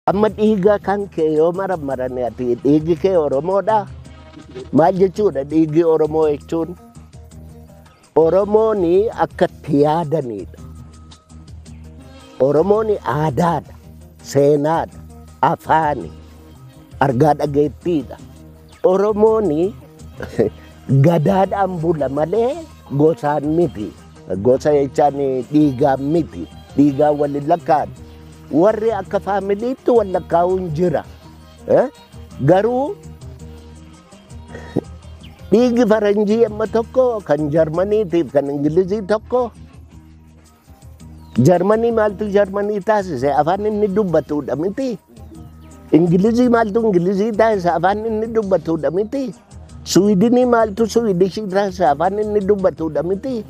Amma dhiiga kan kee yoo marammarani ati dhiigi kee Oromoodha. Maal jechuudha dhiigi Oromoo jechuun? Oromoon akka itti yaadaniidha. Oromoon aadaadha, seenaadha, afaani, argaa dhageettiidha. Oromoon gadaadhaan bula malee gosaan miti. Gosa jechaan dhiigaan miti. Dhiigaan wal hin lakkaa'an. Warri akka faamiliitti wal lakkaa'uun jira. Eh? Garuu dhiigi faranjii amma tokko kan jarmaniitiif kan ingilizii tokko Jarmanii maaltu Jarmanii taasise afaan inni dubbatudha miti. Ingilizii maaltu Ingilizii taasise afaan inni dubbatudha miti. Suwidinii maaltu Suwidishii taasise afaan inni dubbatudha miti.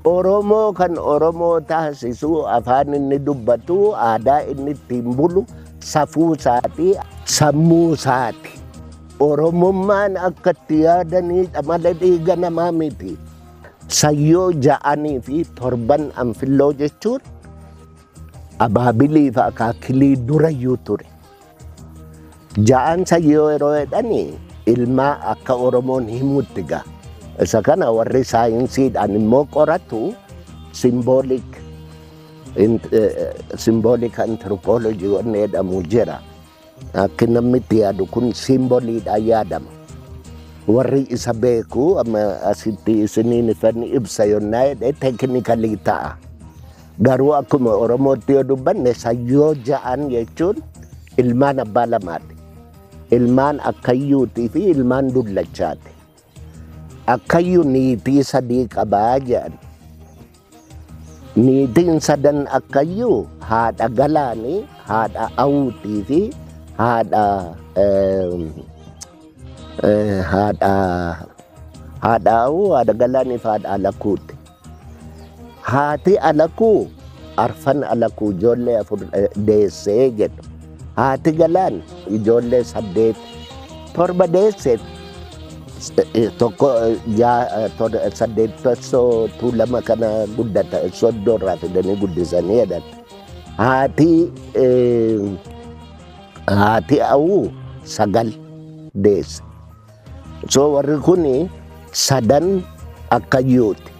Oromoo kan Oromoo taasisu afaan inni dubbatu aadaa inni ittiin bulu safuu isaati sammuu isaati. Oromummaan akka itti yaadaniidha malee dhiiga namaa miti. Sayyoo ja'anii fi torban anfilloo jechuun abaabilii fi akaakilii durayyuu ture. Ja'an sayyoo yeroo jedhani ilmaa akka Oromoon himutti gaa. Isa kana warri saayinsiidhaan immoo qoratu simboolik simboolik antiroopoolojii wanni jedhamu jira. Akki namni itti yaadu kun simboliidhaan yaadama. Warri isa beeku amma asitti isiniin ifan ibsa yonnaa jedhe teekinikalii ta'a. Garuu akkuma Oromootti yoo dubbanne sayyoo ja'an jechuun ilmaan abbaa lamaati. Ilmaan akkayyuutii fi ilmaan dullachaati. Akkayyu niitii sadii qaba jedhan. Niitiin sadan akkayyu haadha Galaani, haadha Awuutii fi haadha haadha haadha Awuu, haadha Galaanii fi haadha Alakuuti. Haati alakuu arfan alakuu ijoollee afur deessee jedhu. Haati galaan ijoollee saddeet torba deesse tokko saddeet tessoo tuulama kana guddata soddoo irraa fidanii guddisanii jedhan. Haati haati awuu sagal deesse. So warri kun sadan akkayyuuti.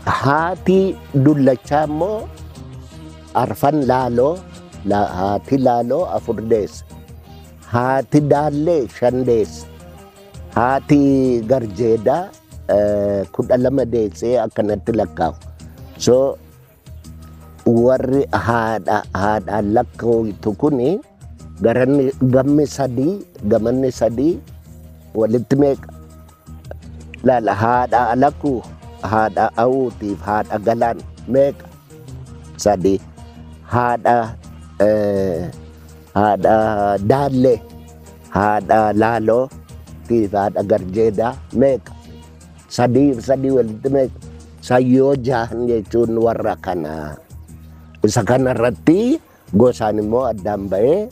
Haati dullachaa immoo arfan laaloo la- haati laaloo afur deesse. Haati daallee shan deesse. Haati garjeedaa eh, kudha lama deessee akkanatti lakkaa'u. So warri haadha haadhaan lakkaa'amtu kun garanni gammi sadii gamanni sadii walitti meeqa laala haadha alakuu haadha awuutiif haadha galaan meeqa sadii haadha eh, haadha daallee haadha laaloo tiif haadha garjeedaa meeqa sadii fi sadii walitti meeqa sayyoo jahan jechuun warra kana isa kana irratti gosaan immoo addaan ba'ee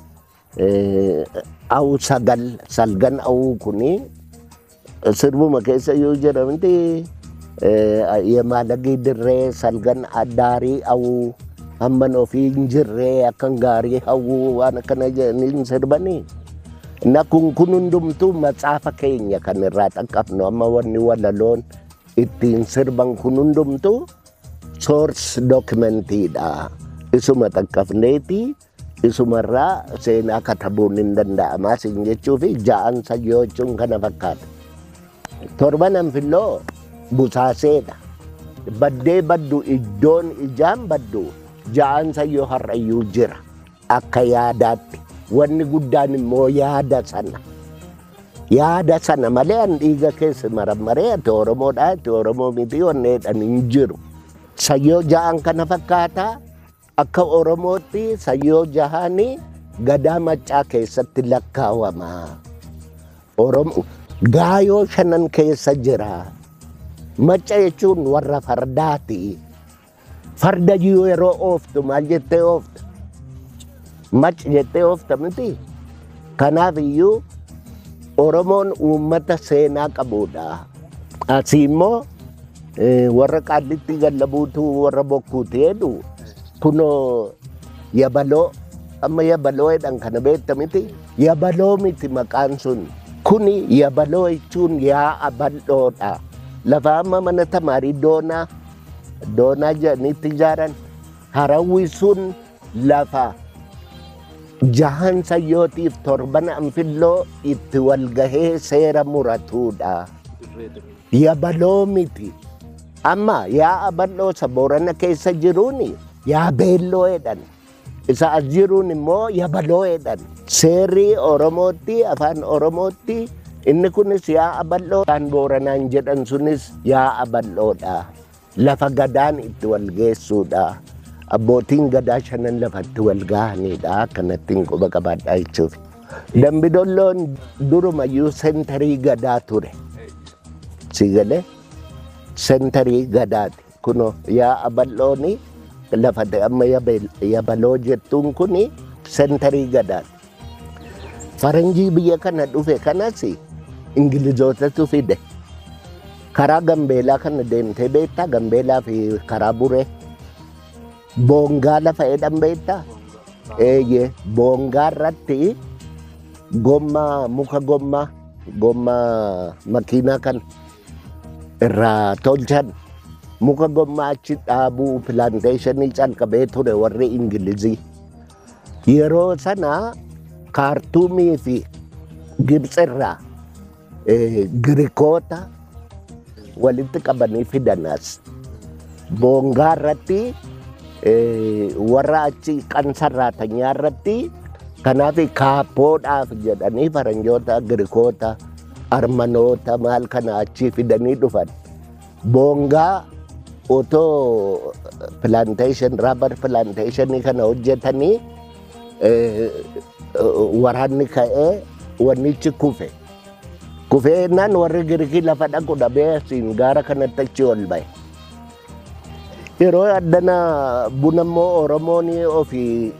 awuu sagal salgan awuu kuni sirbuma keessa yoo jedhamti yemaalagii dirree salgan addaarii awuu hamman ofii hin jirree akkan gaarii hawwuu waan akkana jedhanii sirbanii Na kun kun hundumtuu matsaafa keenya kan irraa dhaqqabnu amma wanni walaloon ittiin sirban kun hundumtuu soors dookimentiidha. Isuma dhaqqabneeti isumarraa seenaa katabuun hin danda'amaa siin jechuu fi ja'an sayyoo jechuun kana fakkaata. Torban anfilloo busaaseedha. Baddee baddu iddoon ijaan baddu ja'an sayyoo har'ayyuu jira. Akka yaadaatti wanni guddaan immoo yaada sana. Yaada sana malee an dhiiga keessa marammaree ati Oromoodhaa ati Oromoo miti onneedhaan hin jiru. Sayyoo jahaan kana fakkaata akka Oromootti sayyoo jahaanii gadaa maccaa keessatti lakkaawama. Oromo gaayoo shanan keessa jira. Macca jechuun warra fardaati. Farda jiru yeroo ooftu maal jettee oofta? Mac jettee oofta miti. Kanaaf iyyuu Oromoon uummata seenaa qabudha. Asii immoo eh, warra qaallittii gallabuutu warra bokkuuti jedhu kunoo yabaloo amma yabaloo jedhan kana beekta miti yabaloo miti maqaan sun kuni yabaloo jechuun yaa'a bal'oodha lafa amma mana tamaarii doonaa doonaa jedhaniitti ijaaran harawwi sun lafa jahan sayyootiif torban anfilloo itti wal gahee seera muratuudha. Yabaloo miti. Amma yaa abal'oosa boorana keessa jiruuni yaa beelloo jedhan. Isa as jiruun immoo yabaloo'eedhaan seerri Oromootti afaan Oromootti inni kunis yaa abal'oo kan booranaan jedhan sunis yaa abal'oodha. Lafa gadaan itti wal geessuudha. Abbootiin gadaa shanan lafatti wal gahaniidha. Kanattiin quba qabaadhaa jechuudha. Dambidolloon durumayyuu sentarii gadaa ture. Siigalee sentarii gadaati. Kuno yaa'a bal'oon lafa amma yabaloo jettuun kun sentarii gadaan. Faranjii biyya kana dhufe kanas Ingilizootatu fide. Karaa Gambeelaa kana deemtee beektaa? Gambeelaa fi karaa Buree. Boongaa lafa jedhan beektaa? Eeyyee. Boongaa irratti gommaa muka gommaa gommaa makiinaa kana. irraa tolchan muka gommaa achi dhaabuu pilaanteeshinii calqabee ture warri Ingilizii. Yeroo sana kaartuumii fi Gibxi irraa eh, Girikoota walitti qabanii fidanas. Boongaa irratti eh, warra achi kan sarraatanyaa irratti kanaaf kaappoodhaaf jedhanii faranjoota Girikoota Armanoota maal kana achii fidanii dhufan. Boongaa otoo plantation, rubber plantation kana hojjetanii eh, waraanni ka'ee wannichi kufe. Kufee jennaan warri Girikii lafa dhaqu dhabee asiin gaara kanatti achi ol ba'e. Yeroo addana buna immoo Oromoon ofii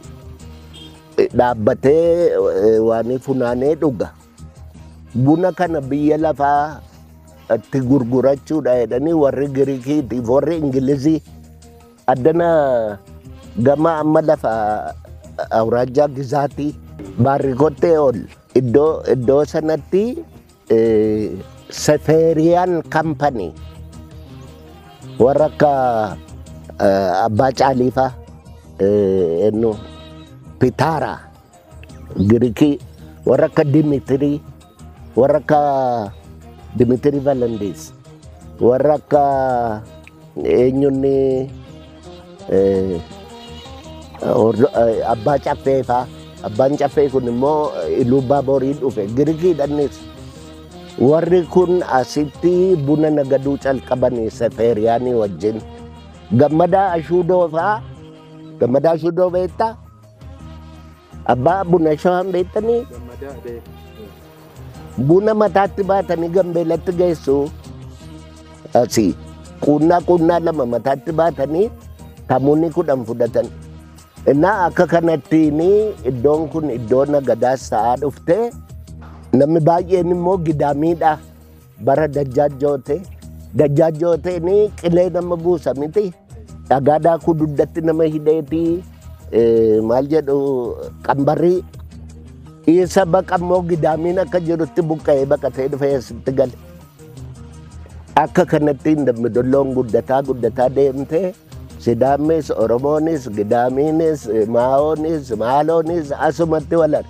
dhaabbatee eh, waan funaanee dhuga. Buna kana biyya lafaa itti gurgurachuudha jedhanii warri Giriikiitiif warri Ingilizii addana gama amma lafa awuraajjaa gizaatii baarrikottee ol iddoo iddoo sanatti sefeeriyaan kampanii warra akka abbaa caaliifaa ennu pitaaraa Girikii warra akka Dimitirii, warra akka Dimitirii Valandees, warra akka eenyunni eh, hordo- eh, abbaa caffee faa. Abbaan caffee kun immoo eh, Iluu Baaborii dhufe. Girikiidhanis warri kun asitti buna nagaduu calqabanii Sefeeriyaanii wajjin. Gammadaa Ashuudoo faa. Gammadaa Ashuudoo beektaa? Abbaa buna shawaan beektanii Gammadaa Adee. buna mataatti baatanii gambeelatti geessu asii quunnaa quunnaa lama mataatti baatanii tamuunni kudhan fudhatan innaa akka kanattiin iddoon kun iddoo nagadaas ta'aa dhufte namni baay'een immoo gidaamiidha bara dajjaajjoote dajjaajjooteen qilee nama buusa miti dhagaa daakuu dugdatti nama hidheeti eh, maal jedhu qambarrii isa baqa immoo gidaamiin akka jirutti buqqa'ee baqatee dhufee asitti gale akka kanatti hin dammi dolloon guddataa guddataa deemtee sidaamnis oromoonis gidaamiinis maa'oonis maaloonis asumatti walare